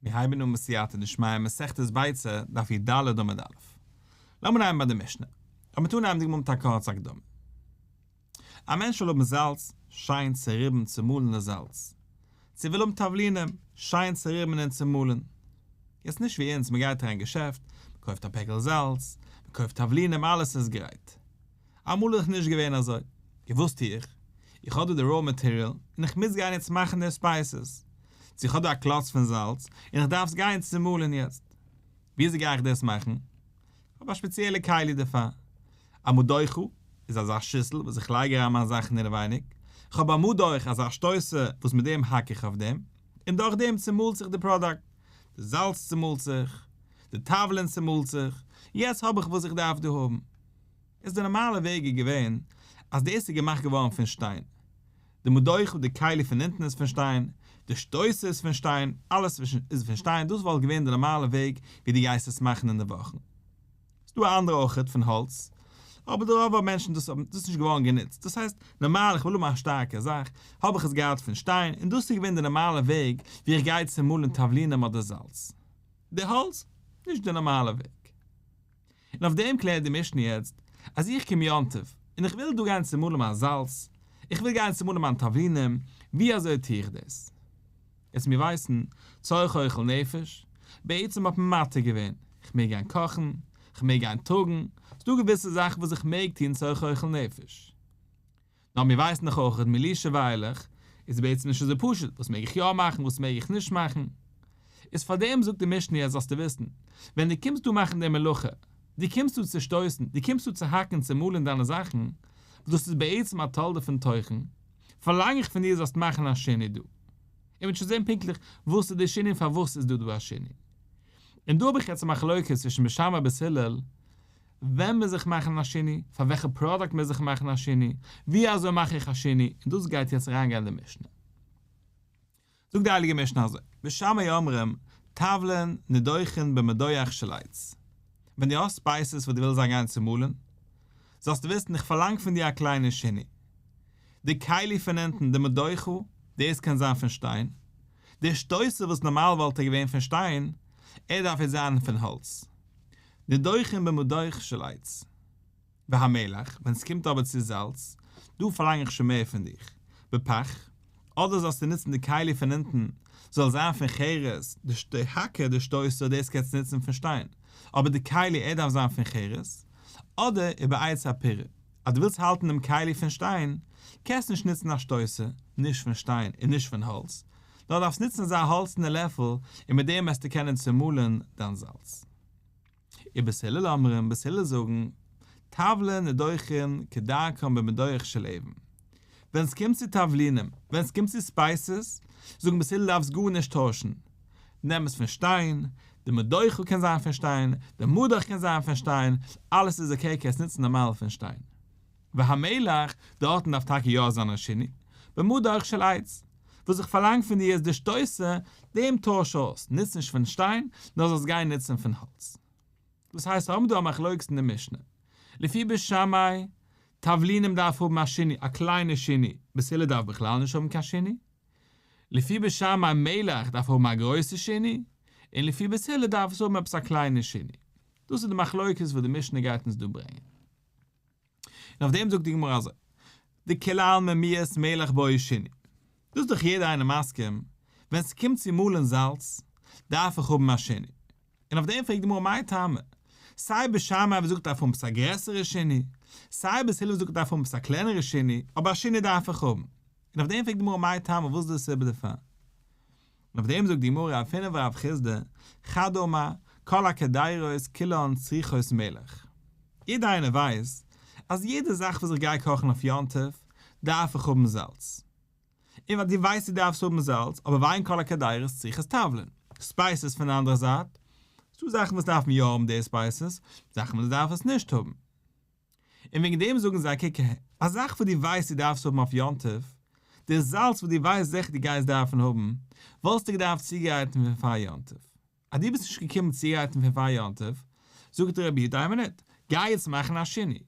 מיר הייבן אן בסייעתא דשמיא מסכת ביצה, דף י ד עמוד א'. לאמיר הייבן ביי די משנה. אבער מ'טאר אנהייבן די גמ' מיט א קורצע הקדמה. א מענטש וויל האבן זאלץ, שיין צוריבן צומאלן דאס זאלץ. צו וויל האבן תבלינים, שיין צוריבן און צומאלן. יעצט נישט ווי אונז, מ'גייט אריין אין געשעפט, מ'קויפט א פעקל זאלץ, מ'קויפט תבלינים אלעס איז גרייט. אמאל איז נישט געווען אזוי. און וואס טו איך? איך האב דא די ראו מאטעריאל און איך מוז גיין יעצט מאכן די ספייסעס. צו איך האב דא א קלאץ פון זאלץ און איך דארף עס גיין צומאלן יעצט. וויאזוי גיי איך דאס מאכן? כ'האב א שפעציעלע כלי דערפאר. א מד דוחא איז אזא שיסל וואס איך לייג אריין מיינע זאכן אינעווייניג. כ'האב א מד אויך אזא שטויסער וואס מיט דעם האק איך אויף דעם. און דורך דעם צומאלט זיך די פראדאקט. די זאלץ צומאלט זיך. די טאוולען צומאלט זיך. יעצט האב איך וואס איך דארף דא האבן. איז די נארמאלע וועג איז געווען אז דאס איז געמאכט געווארן פון שטיין, די מדוכה, די כלי פון אונטן איז פון שטיין, די שטויסער איז פון שטיין, אלעס איז פון שטיין, דאס וואלט געווען די נארמאלע וועג ווי דו גייסט עס מאכן אינדערוואכן. ס'איז דא אנדערע אויכעט פון האלץ, אבער די רוב מענטשן דאס האבן דאס נישט געווארן גענוצט, דאס הייסט נארמאל איך וויל האבן א שטארקע זאך האב איך עס געהאט פון שטיין, און דאס איז געווען די נארמאלע וועג ווי איך גיי צו מאלן תבלינים אדער זאלץ. די האלץ, נישט די נארמאלע וועג. און אויף דעם קלערט די משנה יעצט, אז איך קום יום טוב, און איך וויל דא גיין צומאלן מיין זאלץ, איך וויל גיין צומאלן מיין תבלינים, ווי אזוי טו איך דאס? עס מיר ווייסן, צורך אוכל נפש, בעצם האט מען מתיר געווען, איך מעג גיין קאכן, איך מעג גיין טראגן, ס'דא געוויסע זאכן וואס איך מעג טון צורך אוכל נפש. נאר מיר ווייסן דאך אויך אז מילישעוויילעך איז בעצם נישט אזוי פשוט, וואס מעג איך יא מאכן וואס מעג איך נישט מאכן, איז פארדעם זאגט די משנה יעצט זאלסטו וויסן, ווען דו קומסט דא מאכן די מלאכה, דו קומסט דא צושטויסן, דו קומסט דא צוהאקן און צומאלן דיינע זאכן, וואס דאס איז בעצם א תולדה פון תוכן, פארלאנג איך פון דיר זאלסט מאכן א שינוי דא. איר וועט שוין זען פונקטליך וואס איז די שינוי און פארוואס איז דא דא א שינוי. און דא האב איך יעצט א מחלוקת צווישן בשם רבי הלל, ווען מוז איך מאכן א שינוי, פאר וועלכע פראדוקט מוז איך מאכן א שינוי, ווי אזוי מאך איך א שינוי, און דאס גייט יעצט אריין גיין אין די משנה. זאגט די הייליגע משנה אזוי, בשמיא אומרים, טבלין נדוחין במדוח של עץ, ווען דו האסט ספייסעס וואס דו ווילסט זיי גיין צומאלן, זאלסטו וויסן איך פארלאנג פון דיר א קליינע שינוי, די כלי פון אונטן, די מדוחה, דאס קען זיין פון שטיין, דער שטויסער וואס נארמאל וואלט ער געווען פון שטיין, ער דארף יעצט זיין פון האלץ. נדוחין במדוך של עץ. והמלח, ווען ס'קומט אבער צו זאלץ, דא פארלאנג איך שוין מער פון דיך. בפח, אדער זאלסטו נוצן די כלי פון אונטן, זאל עס זיין פון חרס, די האקער, די שטויסער, דאס קענסטו נוצן פון שטיין, אבער די כלי, ער דארף זיין פון חרס. אדער איבער א עץ הפירה, אז דו ווילסט האלטן דעם כלי פון שטיין, קענסטו נישט נוצן א שטויסער, נישט פון שטיין און נישט פון האלץ, נאר דארפסט נוצן אזא האלצענע לעפל און מיט דעם וועסטו קענען צומאלען דיין זאלץ. ובית הלל אומרים, בית הלל זאגן, טבלין נדוחין כדרכם במדורך של אבן. ווען עס קומט צו תבלינים, ווען עס קומט צו ספייסעס, זאגן בית הלל דארפסט גארנישט טוישן, נעם עס פון שטיין, די מדוחה קען זיין פון שטיין, די מדח קען זיין פון שטיין, אלעס איז אקעי קענסט נוצן נארמאל פון שטיין. והמלח, דארטן דארף טאקע יא זיין א שני, במדורך של עץ. וואס איך פארלאנג פון דיר איז די שטויסער דעם טויש אויס, נוץ נישט פון שטיין, נאר זאלסט גיין נוצן פון האלץ. דאס הייסט, האבן דא א מחלוקת אין די משנה. לפי בית שמאי, תבלינים דארף האבן א שיני, א קליינע שיני, בשלה דארף בכלל נישט האבן קיין שיני. לפי בית שמאי מלח דארף האבן א גרויסע שיני, און לפי בית הלל דארף עס האבן עפעס א קליינע שיני. דאס איז די מחלוקת וואס די משנה גייט אונז דא ברענגען. און אויף דעם זאגט די גמרא אזוי, די כלה עלמא מיעסט מלח באי שיני, דאס איז דאך יעדער איינער מסכים, ווען ס'קומט צו מאלן זאלץ, דארף איך האבן א שיני, און אויף דעם פרעגט די גמרא מאי טעמא, סיי בית שמאי וואס זאגט דארף האבן עפעס א גרעסערע שיני, סיי בית הלל וואס זאגט דארף האבן עפעס א קלענערע שיני, אבער א שיני דארף איך האבן, און אויף דעם פרעגט די גמרא מאי טעמא וואס איז די סיבה דערפאר? און אויף דעם זאגט די גמרא אויף פינף רב חיסדא, חד אמר, כל הקדרות כולן צריכות מלך. יעדער איינער ווייסט אז יעדע זאך וואס איך גיי קאכן אויף יום טוב דארף איך האבן זאלץ. און ווייל דו ווייסט דו דארפסט האבן זאלץ, אבער וויין כל הקדרות צריכות תבלין. ספייסעס פון די אנדערע זייט, ס'דא זאכן וואס דארפן יא האבן די ספייסעס, זאכן וואס דארף עס נישט האבן. און וועגן דעם זאגן זיי, קוק אהער, א זאך וואס דו ווייסט דו דארפסט האבן אויף יום טוב, דער זאלץ וואס דו ווייסט זיכער דו גייסט דארפן האבן, וואלסטו געדארפט צוגרייטן פון פאר יום טוב. אז דו ביסט נישט געקומען צוגרייטן פון פאר יום טוב, זאגט דער רבי, דיין מינוט, גיי יעצט מאכן א שינוי.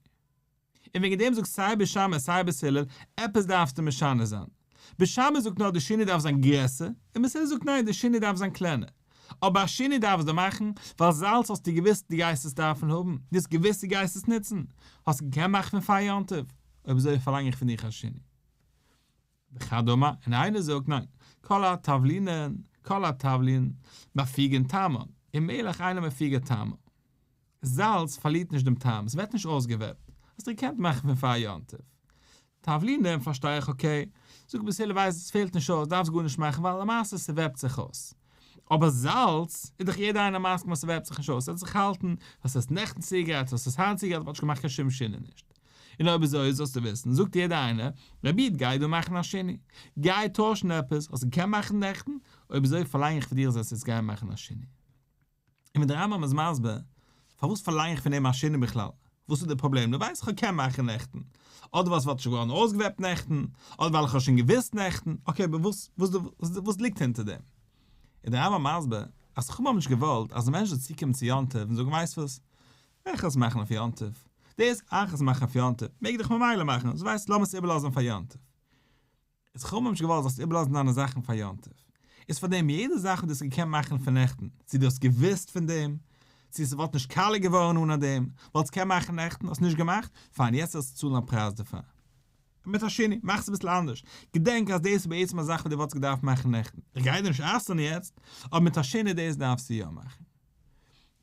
און וועגן דעם זאגט סיי בשמע סיי בס הלל, עפעס דארפסטו משנה זיין. בשמש זאגט נאר די שני דארף זיין גרעסער, און מסעודה זאגט ניין די שני דארף זיין קלענער. אבער א שני דארפסטו מאכן, ווייל זאלץ האסטו געוויסט די גייסט עס דארפן האבן, די האסט געוויסט די גייסט עס נוצן, האסט געקענט מאכן פון פאר יום טוב, אויב אזוי פארלאנג איך פון דיך א שני. וכדומה, און איינער זאגט ניין, כל התבלינן, כל התבלין, מפיגין טעמא, און מעליך איינער מפיגא טעמא. זאלץ פארלירט נישט דעם טעם, עס ווערט נישט אויסגעוועפט, האסט דיר געקענט מאכן פון פאר יום טוב. תבלינים פארשטיי איך אקעי, זאג ביז הילער ווייסט עס פעלט נישט אויס דארפסט גארנישט מאכן ווייל למעשה ס'וועפט זיך אויס. אבער זאלץ איז דאך יעדער איינער מסכים אז ס'וועפט זיך נישט אויס, עס וועט זיך האלטן, האסט עס נעכטן צוגעגרייט האסט עס היינט צוגעגרייט האט נישט געמאכט קיין שום שינוי נישט. און אויב איז אויס זאלסטו וויסן זאגט יעדער איינער רבי איד גיי דא מאכן א שינוי, גיי טוישן עפעס, האסט געקענט מאכן נעכטן, אויב אזוי פארלאנג איך פון דיר זאלסט יעצט גיין מאכן א שינוי. און ווען דער רמב ם איז מסביר פארוואס פארלאנג איך פון אים א שינה בכלל, וואס איז די פראבלעם, דו ווייסט איך קען מאכן נעכטן, אדער ווייל ס'וואלט נישט געווארן אויסגעוועפט נעכטן, אדער ווייל איך האב שוין געוואוסט נעכטן, אקעי אבער וואס וואס וואס ליגט אונטער דעם? איז דער רמב ם מסביר אז חכמים האבן נישט געוואלט אז די מענטש זאל צוקומען צו יום טוב און זאגן ווייסט וואס, איך וועל עס מאכן אויף יום טוב, דאס אייך עס מאכן אויף יום טוב מעג דאך ממילא מאכן, דאס ווייסט לאמיר עס איבערלאזן פאר יום טוב. איז חו ממש געוואלט זאלסט איבערלאזן דיינע זאכן פאר יום טוב? איז פאר דעם יעדע זאך וואס דו האסט געקענט מאכן פון נעכטן, צו דו האסט געוואוסט פון דעם, צו ס'וואלט נישט קאלער געווארן אנע דעם, וואלטסט געקענט מאכן נעכטן, האסט נישט געמאכט, פיין יעצט זאלסטו צאלן א פרייז דערפאר. אמת השני, מאך עס אביסל אנדערש, געדענק אז דאס איז בעצם א זאך וואס דו וואלטסט געדארפט מאכן נעכטן, איך גיי דיר נישט אסר'ן יעצט, אבער אמת השני דאס דארפסטו יא מאכן.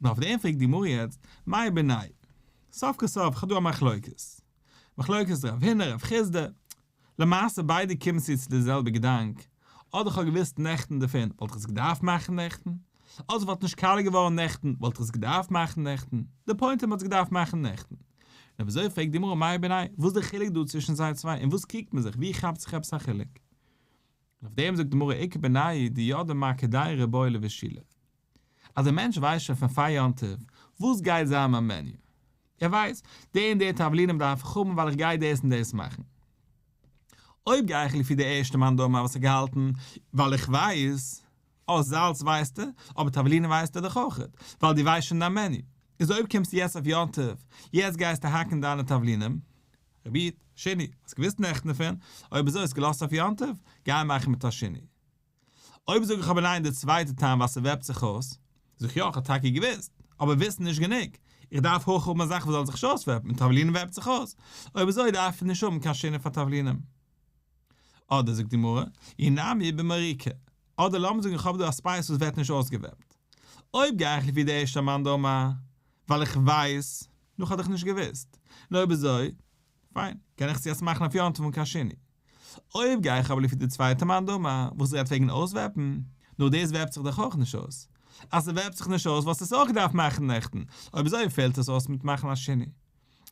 נו אויף דעם פרעגט די גמרא יעצט, מאי ביני'? סוף כל סוף, כ'האב דא א מחלוקת. מחלוקת רב הינא רב חיסדא. למעשה ביידע קומט צו צו די זעלבע געדאנק, אדער איך האב געוואוסט נעכטן דערפון וואלט איך עס געדארפט מאכן נעכטן, אדער עס וואלט נישט קאלער געווארן נעכטן וואלט איך עס געדארפט מאכן נעכטן, די פוינט איז מען האט עס געדארפט מאכן נעכטן. נו וויאזוי פרעגט די גמרא מאי ביני'? וואס איז די חילוק דא צווישן זיי צוויי און וואס קריגט מען זיך? ווי כאפט זיך עפעס א חילוק? אויף דעם זאגט די גמרא עיקר בניי די יודע מה כדאי רבוי לו ושילה אז א מענטש ווייסט שוין פון פאר יום טוב וואס גייט זיין מיין מעניו ער ווייסט די און די תבלינים דארף איך האבן ווייל איך גיי דאס און דאס מאכן אויב גיי איך לפי די ערשטע מאן דאמר וואס האט געהאלטן ווייל איך ווייס אז זאלץ ווייסטו אבער תבלינים ווייסטו דאך אויך ווייל די ווייסט שוין דיין מעניו איז אויב קומסטו יעצט אויף יום טוב יעצט גייסטו האקן דיינע תבלינים רבי שני, האסט געוואוסט נעכטן דערפון? אויב אזוי האסט געלאזט אויף יום טוב? גיי מאכן מיט השני. אויב זאג איך אבער ניין די צווייטע טעם ווייל ס'וועפט זיך אויס, זאג איך יא כ'האב טאקע געוואוסט, אבער וויסן איז נישט גענוג, איך דארף הויך האבן א זאך וואס זאל זיך נישט אויסוועפן, און תבלין וועפט זיך אויס, אויב אזוי דארף איך נישט האבן קיין שני פאר תבלינים. אדער, זאגט די גמרא, אי נמי במריקה, אדער לאמיר זאגן איך האב דא א ספייס וואס ווערט נישט אויסגעוועפט, אויב גיי איך לפי די ערשטע מאן דאמר, ווייל איך ווייס, נו כ'האב דאך נישט געוואוסט. נו אויב אזוי, פיין, קען איך צו עס מאכן אויף יום טוב און קיין שני. אויב גיי איך אבער לפי די צווייטע מאן דאמר וואס רעדט וועגן אויסוועפן, נו דאס וועפט זיך דאך אויך נישט אויס. אז ס'וועפט זיך נישט אויס וואלסטו עס אויך געדארפט מאכן נעכטן, אויב אזוי פעלט עס אויס מיט מאכן א שני.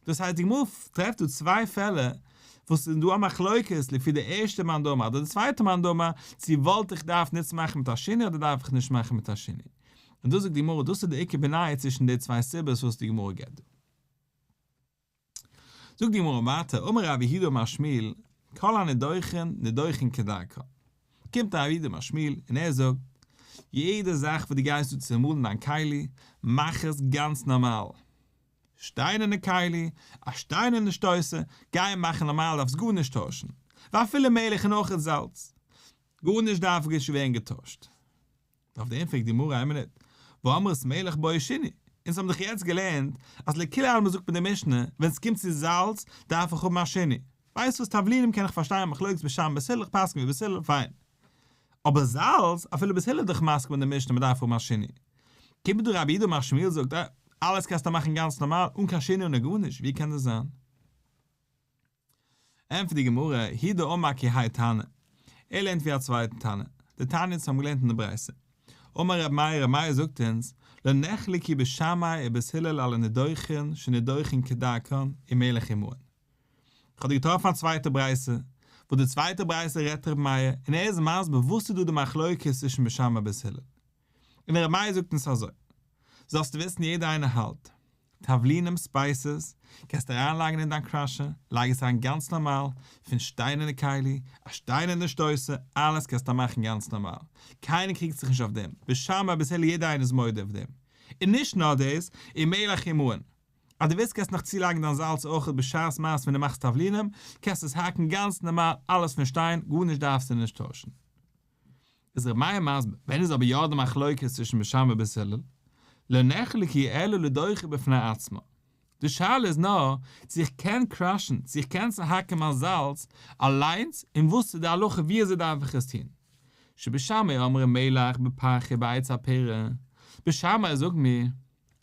דאס הייסט די גמרא טרעפט דא צוויי פעלער וואס ס'איז דא א מחלוקת לפי די ערשטע מאן דאמר אדער די צווייטע מאן דאמר צו וואלט איך געדארפט נוצן מאכן מיט א שני אדער דארף איך נישט מאכן מיט א שני. און דאס זאגט די גמרא דאס איז די עיקר בניה צווישן די צוויי סיבות וואס די גמרא געבט דא. זאגט די גמרא ווייטער אמר ר' אביהודה אמר שמואל כל הנדוחין נדוחין כדרכו קומט ר' אביהודה אמר שמואל און ער זאגט יעדע זאך וואס דו גייסט דא צעמאלן דיין כלי מאך עס גאנץ נארמאל שטיינערנע כלי א שטיינערנע שטויסער גיי מאכן נארמאל דארפסט גארנישט טוישן ואפילו מלח און אויך זאלץ גארנישט דארף ווערן געטוישט. אויף דעם פרעגט די גמרא, איין מינוט, ואמרת מלך באי שני, אונז האבן דאך יעצט געלערנט אז לכולי עלמא זאגט מען די משנה, ווען ס'קומט צו זאלץ דארף איך האבן א שני, ווייסט וואס תבלינים קען איך פארשטיין מחלוקת ביז שם ביז הלל איך פסק'ן ווי ביז הלל פיין, אבער זאלץ אפילו ביז הלל איז דאך מסכים מיט די משנה מ'דארף האבן א שני, קומט דא רבי אידא מאכשמיאל זאגט, אה, אלעס קענסטו מאכן גאנץ נארמאל אן קיין שני און און גארנישט, ווי קען דאס זיין? ענטפערט די גמרא, הי' דא אמר כ ה תנא, ער לערנט ווי א צווייטן תנא, די תענית האבן געלערנט אין די ברייתא. אמר ר' מאיר, ר' מאיר זאגט אונז, לא נחלקי בשמאי ובית הלל על הנידוחין שנידוחין כדרכן עם מלך עם מוהן. איך האב דא געטראפן א צווייטע ברייתא, וואס די צווייטע ברייתא רעדט ר' מאיר, און ער איז מסביר וואס איז דא די מחלוקת צווישן בשמאי און בית הלל. און דער רבי זאגט אונז אזוי, זאלסטו וויסן יעדער איינער האלט, תבלינים ספייסעס, קענסט אריינלייגן אין דיין קראשער, לייג עס אריין גאנץ נארמאל, פון שטיינערנע כלי, א שטיינערנע שטויסער, אלעס קענסטו מאכן גאנץ נארמאל, קיינער קריגט זיך נישט אויף דעם, בשם אביסעלע יעדער איינער איז מודה אויף דעם, און נישט נאר דאס, און מעלעך און מוען. אז דו ווילסט קענסטו נאך צולייגן דיין זאלץ אויך בשעת מעשה ווען דו מאכסט תבלינים, קענסטו עס האקן גאנץ נארמאל, אלעס פון שטיין, גארנישט דארפסטו נישט טוישן. איז ר' מאיר מסביר, ווען איז אבער יא די מחלוקת צווישן בית שמאי ובית הלל? לא נחלק היא אלא לדוחי בפני עצמה. די שאלה איז נאר צו איך קען קראשן, צו איך קען צוהאקן מיין זאלץ, אליינס, און וואס איז די הלכה ווי אזוי דארף איך עס טון. שבית שמאי אומרים מלח בפחי בעץ הפרה, בית שמאי זאגט מיר,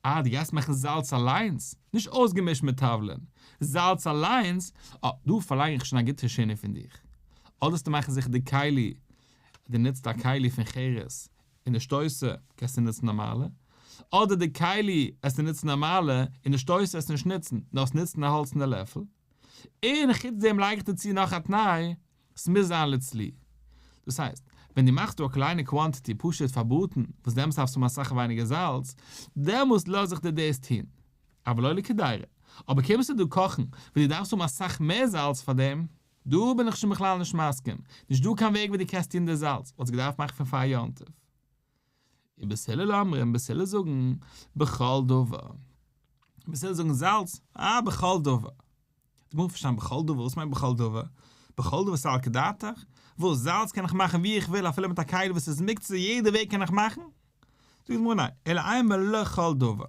אה, דו גייסט מאכן זאלץ אליינס? נישט אויסגעמישט מיט טאוולען, זאלץ אליינס? אה, דא פארלאנג איך שוין א גוטע שינה פון דיך. אדערסטו מאכן זיכער די כלי, דו נוצט א כלי פון חירות, און די שטויסער קענסטו נוצן נארמאלע, אדער די כלי עסטו נוצן נארמאלע, און די שטויסער עסטו נישט נוצן, נאר עסט נוצן א האלצענע לעפל. און חוץ דעם לייג איך דיר צו נאך א תנאי. ס'מוז זיין לץ ל. דאס הייסט, ווען דו מאכסט דא א קליינע קוואנטיטי פשוט פאר בראטן, וואס דעמאלס דארפסטו האבן אסאך ווייניגער זאלץ, דעמאלס לאז איך דיר דאס טון. אבל לא לקדירה. אבער קומסטו דא קאכן, וואס דו דארפסט האבן אסאך מער זאלץ פאר דעם, דא בין איך שוין בכלל נישט מסכים. נישט דא קיין וועג ווי דו קענסט טון די זאלץ, וואלסט געדארפט מאכן פון פאר יום טוב. און בצלאל אומרים, בצלאל זאגן, בכל דבר. בצלאל זאגן זאלץ, אה, בכל דבר. איך מוז פארשטיין בכל דבר, וואס מיינט בכל דבר? בכל דבר ס'איז על כדעתך? וואס, זאלץ קען איך מאכן ווי איך וויל אפילו מיט א כלי וואס איז מוקצה יעדע וועג קען איך מאכן? זאגט די גמרא ניין, אלא איין מלא כל דבר.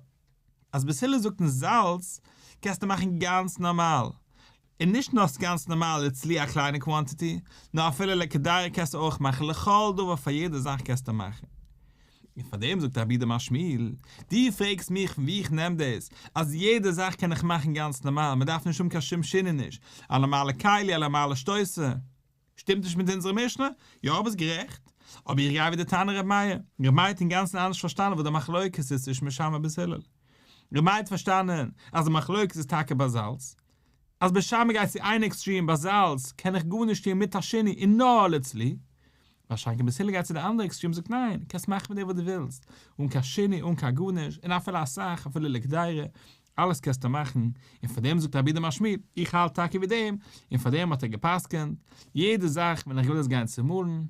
אז בסילוס זאגט אין זאלץ קענסטו מאכן גאנץ נארמאל, און נישט נאר גאנץ נארמאל איטס לי א קליינע קוואנטיטי, נאר אפילו לעקעדארי קענסטו אויך מאכן, לכל דבר פאר יעדע זאך קענסטו מאכן. און פאר דעם זאגט רבי דער משמעאל, דו פרעגסט מיך פון ווי איך נעם דאס אז יעדע זאך קען איך מאכן גאנץ נארמאל, מען דארף נישט האבן קיין שום שינעניש, א נארמאלע כלי, א נארמאלע שטויסער. שטימט נישט מיט אונזערע משנה? יא ביסט גערעכט, אבער איך גיי ווי די תנא ר' מאיר. ר' מאיר האט אינגאנצן אנדערש פארשטאנען וואס די מחלוקת איז צווישן משמר ביז הלל. ר' מאיר האט פארשטאנען אז די מחלוקת איז טאקע ביי זאלץ. אז משמר גייט צו איין עקסטרים ביי זאלץ קען איך גארנישט טון מיט השני און נאר לעת ל. באשאנקען ביז הלל גייט צו די אנדערע עקסטרים זאגט ניין, קענסט מאכן מיט דעם וואס דו ווילסט, אן קיין שני אן קיין גארנישט, און אפילו אסאך, אפילו לכדאי רע, אלעס קענסטו מאכן, און פאר דעם זאגט רבי די משמיד, איך האלט טאקע ווי דעם, און פאר דעם האט ער גע'פסק'ענט, יעדע זאך ווען איך וויל עס גיין צומאלן,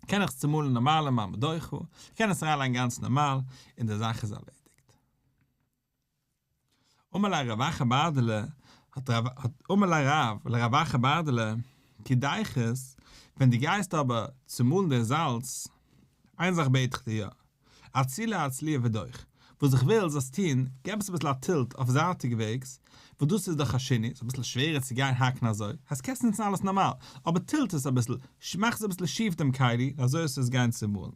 קען איך עס צומאלן נארמאל אין מיין בדוחא, איך קען עס אריינלייגן גאנץ נארמאל, און די זאך איז ערלעדיגט. אמר לה רב אחא בארדעלע, האט רב, האט, אמר לה רב, לרב אחא בארדעלע, כדאיכות, ווען דו גייסט אבער צומאלן די זאלץ, איין זאך בעט איך דיר יא, אצילא אצליא ודויך, וואס איך וויל זאלסט טון, געב עס אביסל א טילט אויף זייטיג וועגס, וואס דאס איז דאך א שינוי, ס'איז אביסל שווערער צו גיין האקן אזוי, אז קענסט נוצן אלעס נארמאל, אבער טילט עס אביסל, מאך עס אביסל שיף דעם כלי, אזוי אז ס'זאל גיין צומאלן.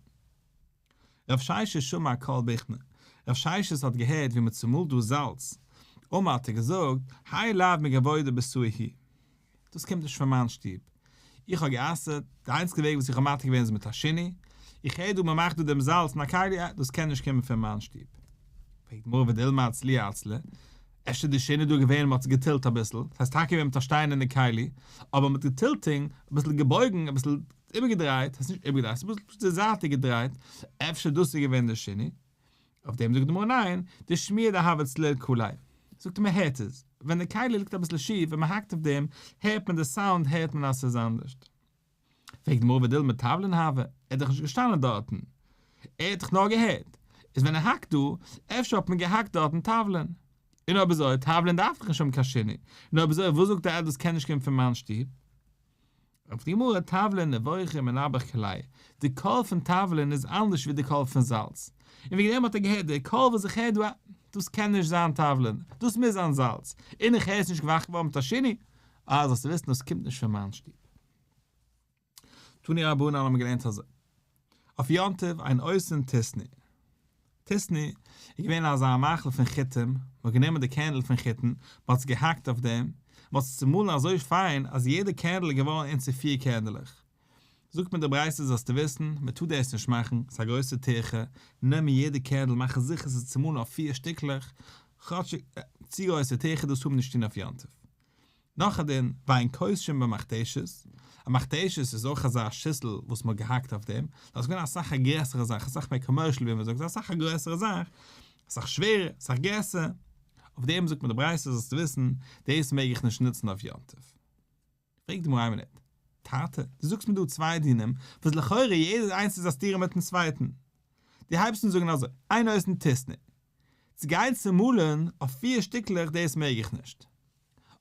רב שיישע שמע קול בכנה, רב שיישעס האט געהערט ווי מ'צומאלט דאס זאלץ, אמר האט ער געזאגט, היי לייב מגעבוי דער בשרי היא. דאס קומט נישט פון מיין שטוב, איך האב גע'אסר'ט, די איינציגע וועג וואס איך האב מתיר געווען איז מיט השני, איך הער דא מען מאכט דא דעם זאלץ אין א כלי, אה, דאס קען נישט קומען פון מיין שטוב. פרעגט די גמרא ודילמא אצלי אצלה, אפשר איז די שני דא געווען און מען האט עס געטילט אביסל, דאס הייסט טאקע געווען מיט א שטיין אין די כלי, אבער מען האט געטילט און אביסל געבויגן, אביסל איבערגעדרייט, דאס הייסט נישט איבערגעדרייט, אביסל זייטיג געדרייט, אפשר דאס איז געווען די שני. אויף דעם זאגט די גמרא ניין, די שמיעה דהאבץ ל קולי, זאגט מען הערט עס, ווען די כלי ליגט אביסל שיף ווען מען האקט אויף דעם הערט מען די סאונד הערט מען אז ס'איז אנדערש. פרעגט די גמרא ודילמא טבלין הוה, ער איז דאך נישט געשטאנען דארטן, ער האט דאך נאר געהערט, איז ווען ער האקט דא, אפשר האט מען געהאקט דארטן טבלין, און אויב אזוי טבלין דארף דאך נישט האבן קיין שני, און אויב אזוי וואס זאגט די עדות קען נישט קומען פון מיין שטוב, אויף די גמרא תבלין נבוכים מנבח כליה, די קול פון תבלין איז אנדערש ווי די קול פון זאלץ, און וועגן דעם האט ער געהערט די קול וואס איך הער דא א, דאס קען נישט זיין תבלין, דאס מוז זיין זאלץ, און איך הער עס נישט געוואכט געווארן מיט א שני, אה זאלסטו וויסן דאס קומט נישט פון מיין שטוב. תני רבנן האבן געלערנט אזוי. אויף יום טוב אין אויסען טיסני. טיסני איז געווען אזא מאכל פון חיטים, מען האט גענומען די קערנדל פון חיטן, מען האט עס געהאקט אויף דעם, מען האט עס צומאלן אזוי פיין אז יעדע קערנדל איז געווארן אין צו פיר קערנדלעך. זאגט מיר די ברייתא זאלסטו וויסן, מען טאר דאס נישט מאכן, ס'איז א גרויסע טירחה, נעם יעדע קערנדל מאך זיכער ס'איז צומאלן אויף פיר שטיקלעך, כאטשיג צו גרויסע טירחה דאס טאר מען נישט טון אויף יום טוב. נאך א דין וויין קושין במכתשית, א מכתשית איז אויך אזא שיסל וואס מ'האט געהאקט אויף דעם, דאס איז געווען אסאך א גרעסערע זאך, אסאך מער קאמערשל ווי מ'זאגט, אסאך א גרויסערע זאך, אסאך שווערער, אסאך גרעסער, אויף דעם זאגט מיר די ברייתא זאלסטו וויסן, דאס מעג איך נישט נוצן אויף יום טוב. פרעגט די מראה מינוט, טאטע, דו זאגסט מיר דא צוויי דינים, וואס לכאורה יעדער איינס איז א סתירה מיט'ן צווייטן, דו הייבסט אן זאגן אזוי, איין אויסן טוסט נישט, צו גיין צומאלען אויף פֿיר שטיקלעך דאס מעג איך נישט,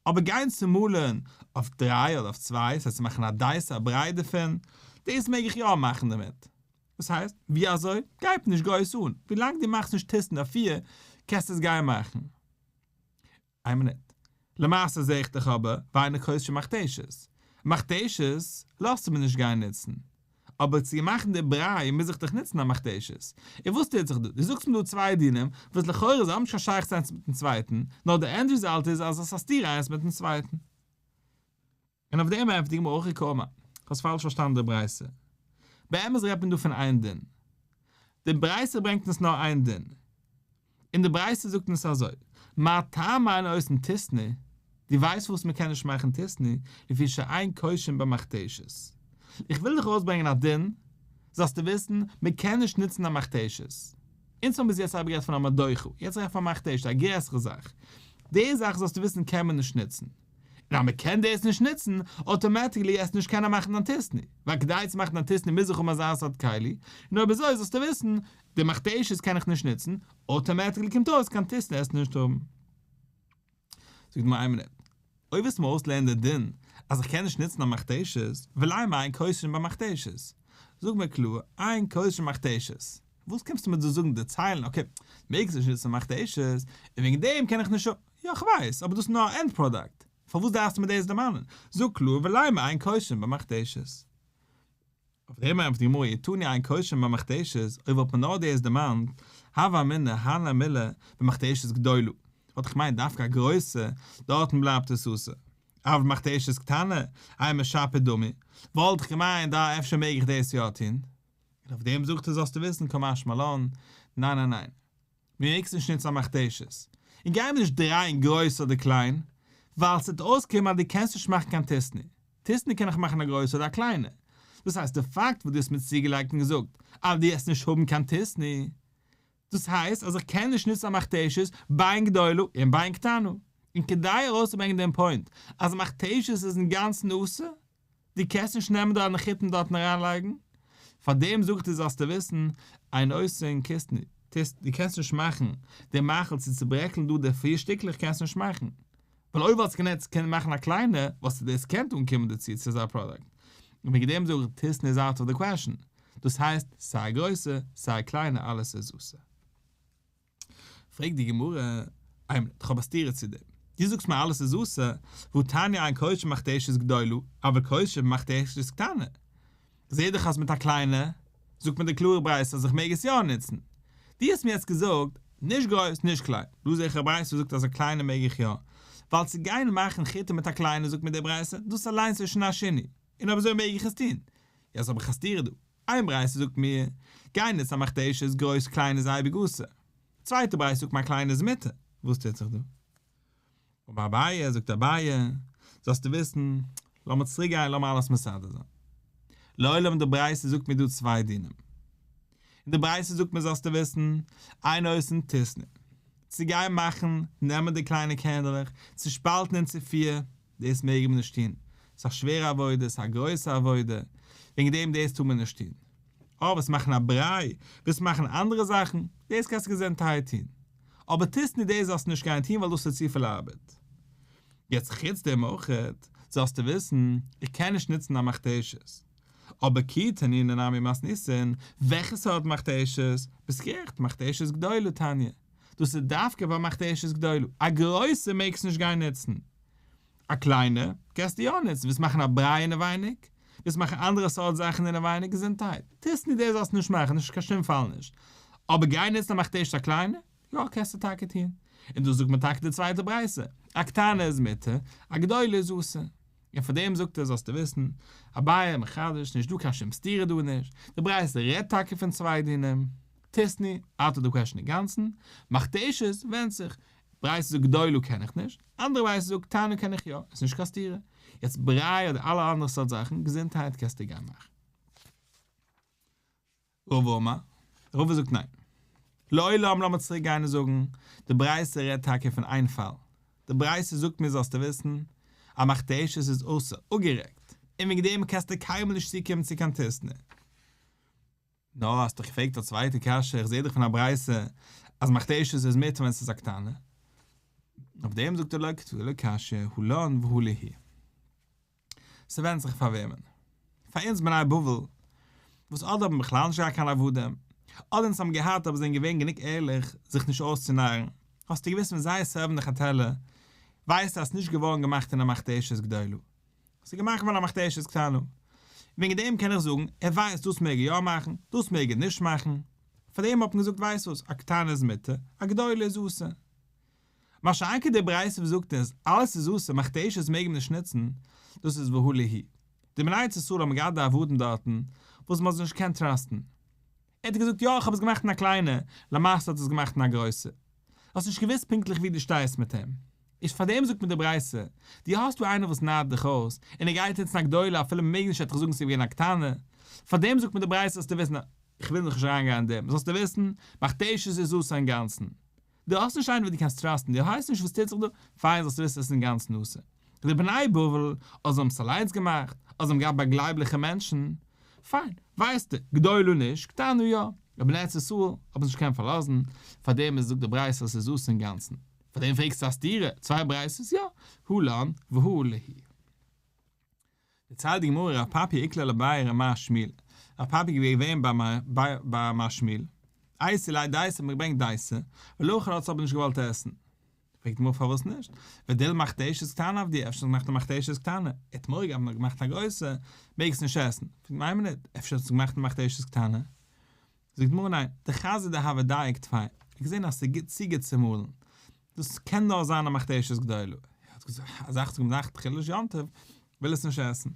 אבער גיין צומאלען אויף דריי אדער אויף צוויי, סאיז צו מאכן א דייסע א ברייט דערפון, דאס מעג איך יא מאכן דערמיט. דאס הייסט, ווי אזוי? גייט נישט גייט עס אן, ווי לאנג דו מאכסט נישט טיסן אויף פֿיר קענסטו עס גיין מאכן. איין מינוט. למעשה זע איך דאך אבער ווייניג חושן מכתשות. מכתשות לאזטו מיר נישט גיין נוצן. אבער צו מאכן די בריי מוז איך דאך נוצן א מכתשות. און וואס טוט זיך דא? דו זאגסט מיר דא צוויי דינים, וואס לכאורה זיי האבן נישט קיין שייכות איינס מיט'ן צווייטן, נאר די ענד רעזאלט איז אז עס איז א סתירה איינס מיט'ן צווייטן. און אויף דעם ענטפערט די גמרא אחרי קאמא, האסט פאלש פארשטאנען די ברייתא, באמת רעדט מען דא פון איין דין, די ברייתא ברענגט אונז נאר איין דין, און די ברייתא זאגט אונז אזוי, מה טעמא אין אוסרין טיסני, דו ווייסט פארוואס מען קען נישט מאכן טיסני, לפי שאין קושין במכתשת, איך וויל דיך ארויסברענגען א דין, זאלסטו וויסן, מען קען נישט נוצן א מכתשת, אונז האבן ביז יעצט ארבעט גערעדט פון א מדוחה, יעצט רעדט מען פון א מכתשת, א גרעסערע זאך, די זאך זאלסטו וויסן קען מען נישט נוצן. און אז מ'קען דאס נישט נוצן, אוטאמעטיקלי עסט נישט קיינער מאכן דאנטיסטני, ווייל כדי צו מאכן דאנטיסטני מוז איך האבן אזא סארט כלי, און אויב אזוי זאלסטו וויסן, די מכתשות קען איך נישט נוצן, אוטאמעטיקלי קומט אויס קיין דאנטיסטני עסטו נישט האבן. זאגט מיר איין מינוט, אויב וועסט מיר אויסלערנען די דין אז איך קען נישט נוצן א מכתש, ווי לייען מיר איין כושר'ן ביי מכתש? זאג מיר קלאר, איין כושר'ן מכתש. וואס קומסטו מיר דא זאגן דערציילן, אקעי, מעגסט נישט נוצן מכתש, און וועגן דעם קען איך נישט. יא כ'ווייס, אבער דאס איז נאר א ענד פראדאקט, פארוואס דארפסטו מיר דאס דערמאנען? זאג קלאר ולא מעין קושן במכתשת. אויף דעם ענטפערט די גמרא איתני עין קושן במכתשת, אויב וואלט מען נאר דאס דערמאנט, הוה אמינא הן למילה במכתשת גדולה, וואלט איך געמיינט דווקא א גרויסע, דארטן בלייבט עס אסור, אבל במכתשת קטנה, איה משפי דמי, וואלט איך געמיינט דא אפשר מעג איך דאס יא טון, און אויף דעם זאגט ער זאלסטו וויסן כמשמע לן, ניין ניין ניין. מיר מעגסט נישט נוצן א מכתשית, און גיי מיר נישט דרייען גרויס אדער קליין, ווייל ס'וועט אויסקומען אז דו קענסט נישט מאכן קיין טיסני, טיסני קען איך מאכן א גרויסע אדער א קליינע, דאס הייסט די פאקט וואס דו האסט מיר צוגעלייגט און געזאגט אז דו וועסט נישט האבן קיין טיסני, דאס הייסט אז איך קען נישט נוצן א מכתשית בעין גדולה און בעין קטנה, און כדי ארויסצוברענגען דעם פוינט אז מכתשית איז אינגאנצן אסור, דו קענסט נישט נעמען די נחיתים דארטן אריינלייגן, פאר דעם זאג איך דיר זאלסטו וויסן, איין עושה אין כיסני, טוסט, דו קענסט נישט מאכן די מאכל צו צוברעקלן דא די פיר שטיקלעך קענסטו נישט מאכן, ווייל אויב וואלסטו גענעצט קענען מאכן א קליינע וואלסטו דאס געקענט אנקומען דערצו צו אזא פראדאקט, און וועגן דעם זאג איך טוסן איז אוט אוו די קוועשן, דאס הייסט סיי א גרויסע סיי א קליינע אלעס איז עושה. פרעגט די גמרא, איימער, איך האב א סתירה צו דעם, דו זאגסט מיר אלעס איז אסור, והוא תניא אין קודשא מחט עשת גדולה, אבל קודשא מחט עשת קטנה, זעה דאך אז מיט א קליינע, זאגט מיר די קלארע ברייתא אז איך מעג עס יא נוצן, דו האסט מיר יעצט געזאגט, נישט גרויס נישט קליין, דא זעה איך א ברייתא וואס זאגט אז א קליינע מעג איך יא, ווייל צו גיין מאכן חיטה מיט א קליינע זאגט מיר די ברייתא, דאס אליינס איז שוין א שינוי, און אויב אזוי מעג איך עס טון, יעצט האב איך א סתירה דא. איין ברייתא זאגט מיר, גיין איז א מכתש איז גרויס קליין איז אייביג אסור. צווייטע ברייתא זאגט מיר א קליין איז מותר, וואס טוט זיך דא? אמר אביי, זאגט אביי, זאלסטו וויסן, לאמיר צוריק גיין לאמיר אלעס מסדר זיין. לעולם די ברייתא זאגט מיר דא צוויי דינים. אין די ברייתא זאגט מיר זאלסטו וויסן, איין עושה תשנא, צו גיין מאכן, נעמען די קליינע קענדלעך, צושפאלטן אין צו פיר, דאס מעג מען נישט טון, ס'איז א שווערע עבודה, ס'איז א גרויסע עבודה, וועגן דעם דאס טאר מען נישט טון. אבער וועסט מאכן א בריי, וועסט מאכן אנדערע זאכן, דאס קענסטו געזונטהייט טון. אבער טוסט נישט דאס זאלסטו נישט גיין טון ווייל דאס איז צופיל ארבעט. יעצט חוץ דעם אויך זאלסטו וויסן, איך קען נישט נוצן א מכתשית, אבער כי תנינא נמי מסניסין, וועלכע סארט מכתשית? ביסט גערעכט, מכתשית גדולה תניא. דאס איז דווקא ווייל מאכט ער עשית גדולה, א גרויסע מעגסט נישט גיין נוצן, א קליינע קענסטו יא נוצן, ווילסט מאכן א בריי אינעווייניג, ווילסט מאכן אנדערע סארט זאכן אינעווייניג, געזונטהייט, טוסט נישט דאס זאלסטו נישט מאכן, נישט קיין שום פאל נישט, אבער גיין נוצן א מאכט עשית א קליינע, יא קענסטו טאקע טון, און דאס זאגט מיר טאקע די צווייטע ברייתא, א קטנה איז מותר, א גדולה איז אסור, און פאר דעם זאגט ער זאלסטו וויסן, אביי מחדש, נישט דא קיין שום סתירה דא נישט, די ברייתא רעדט טאקע פון צוויי דינים. תשני, אנטער די קוועשן אינגאנצן, מכתשז, ווענדט זיך, ברייתא זאגט גדולו קען איך נישט, אנדערע ברייתא זאגט קטנו קען איך יא, עס נישט קיין סתירה, יעצט בריי אדער אלע אנדערע סארט זאכן, געזונטהייט קענסטו גיין מאכן. רב אמר, רבא זאגט ניין. לעולם לאמיר צוריק גיין און זאגן, די ברייתא רעדט טאקע פון איין פאל, די ברייתא זאגט מיר זאלסטו וויסן אז מכתשז איז אסור, אפגערעגט, און וועגן דעם קענסטו קיינמאל נישט צוקומען צו קיין תשני. נא, האסט דאך געפרעגט א צווייטע קשיא, איך זעה דאך פון א ברייתא אז מכתשות איז מותר ווען ס'איז א קטנה. אויף דעם זאגט ער לא כתבי ולא קשיא, הוא לן והוא ליהי. ס'ווענדט זיך פאר וועמען. פאר אונז בני בבל, וואס אדער האבן בכלל נישט געהאט קיין עבדים, אדער אונז האבן געהאט אבער זענען געווען גענוג ערליך זיך נישט אויסצונארן, האסטו געוואוסט ווען זיי סערוו'ן די חתלה, ווייסטו אז ס'איז נישט געווארן געמאכט אין א מכתשית גדולה. ס'איז געמאכט געווארן א מכתשית קטנה. וועגן דעם קען איך זאגן, ער ווייסט דאס מעג ער יא מאכן, דאס מעג ער נישט מאכן. פאר דעם האט מען געזאגט ווייסט וואס, א קטנה איז מותר, א גדולה איז אסור. משא כ די ברייתא וואס זאגט אונז, אלעס איז אסור, מכתשית מעג מען נישט נוצן, דאס איז והא ליהי. די מניית ישראל האבן געהאט די עבדים דארטן, וואס מ'האט זיי נישט געקענט טראסטן. ער האט געזאגט יא איך האב עס געמאכט אין א קליינע, למעשה האט ער עס געמאכט אין א גרויסע. האסט נישט געוואוסט פונקטליך ווי דו שטייסט מיט אים. איז פאר דעם זאגט מען די ברייסע, דו האסט דא איינער וואס נייט דיך אויס, און ער גייט יעצט אין א גדולה אפילו מ'מעג נישט עטץ זאגן ס'איז געווען א קטנה. פאר דעם זאגט מען די ברייסע זאלסטו וויסן, כ'וויל נאך נישט אריינגיין אין דעם, זאלסטו וויסן, מכתש איז איז אסור אינגאנצן. דו האסט נישט איינער וואס דו קענסט טראסטן, דו ווייסט נישט וואס טוט זיך דא, פיין זאלסטו וויסן עס איז אין גאנצן נושא די בני בבל, אדער זיי האבן עס אליינס געמאכט, אדער זיי האבן געהאט ביי גלייבליכע מענטשן, פיין, ווייסטו, גדולו נישט, קטנו יא, די בני ארץ ישראל האבן זיך נישט געקענט פארלאזן, פארדעם איז זאגט די ברייתא אז עס איז אסור אינגאנצן, פארדעם פרעגסטו א סתירה, צוויי ברייתות יא, הוא לן והוא ליה. דערציילט די גמרא ר' פאפי איקלער לבאי ר' מהר שמיל, ר' פאפי איז געווען ביי מהר שמיל, אייסע לייט דייסע האט מען געברענגט דייסע, ולכן האט עס אבער נישט געוואלט עסן. פרעגט די גמרא פארוואס נישט? ודל מכתשת קטנה עבדי, אפשר האט געמאכט א מכתשת קטנה, ער האט מורא געהאט מ'האט געמאכט א גרויסע, מעג עס נישט עסן. פרעגט מיימעניד, אפשר האט עס געמאכט א מכתשת קטנה? זאגט די גמרא ניין, דער חזיר דער האוועדאי עקט פיין, ער האט געזען אז ס'איז גוט צו גוט צו מאלן, דאס קען נאר זיין א מכתשית גדולה. ער האט געזאגט אז אכט און נאכט חילול יום טוב וויל עס נישט עסן.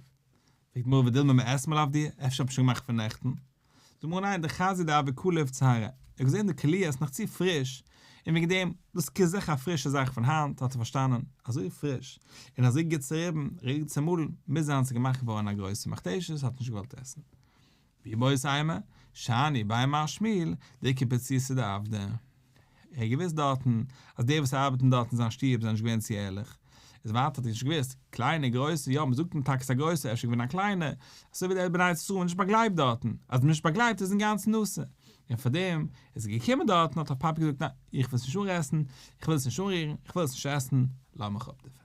פרעגט מוהרא ודילמא מען עסט מען אויף דיר? אפשר האט מען שוין געמאכט פון נעכטן? זאגט מוהרא ניין די חזיר די אבי כלו אויף צהרה. ער האט געזען די כליה איז נאך צו פריש און וועגן דעם דאס כזעך א פרישע זאך פון היינט האט ער פארשטאנען אזוי פריש און אזוי גוט צוריבן רירט צומאלן מוז זיין ס'איז געמאכט געווארן א גרויסע מכתשית האט נישט געוואלט עסן. ווי בויס איימער, שאני, ביי מר שמיל, די קומפלצירסטע די עבדה. ער האט געוויסט דארטן אז די וואס ארבעטן דארט אין זיין שטוב זענען נישט געווען צו ערליך. איז ווייטער האט ער נישט געוויסט, קליינע, גרויסע, יא, מ'זאגט אין טאקס א גרויסער אפשר געווען א קליינער, אזוי ווי די בני ישראל נישט באגלייבט דארטן, אז מ'נישט באגלייבט איז אינגאנצן אסור. און פארדעם איז ער געקומען דארטן האט ער פאפי געזאגט ניין, איך וויל עס נישט אנרעסן, איך וויל עס נישט אנרירן, איך וויל עס נישט עסן, לאז מיך אפ דערפון.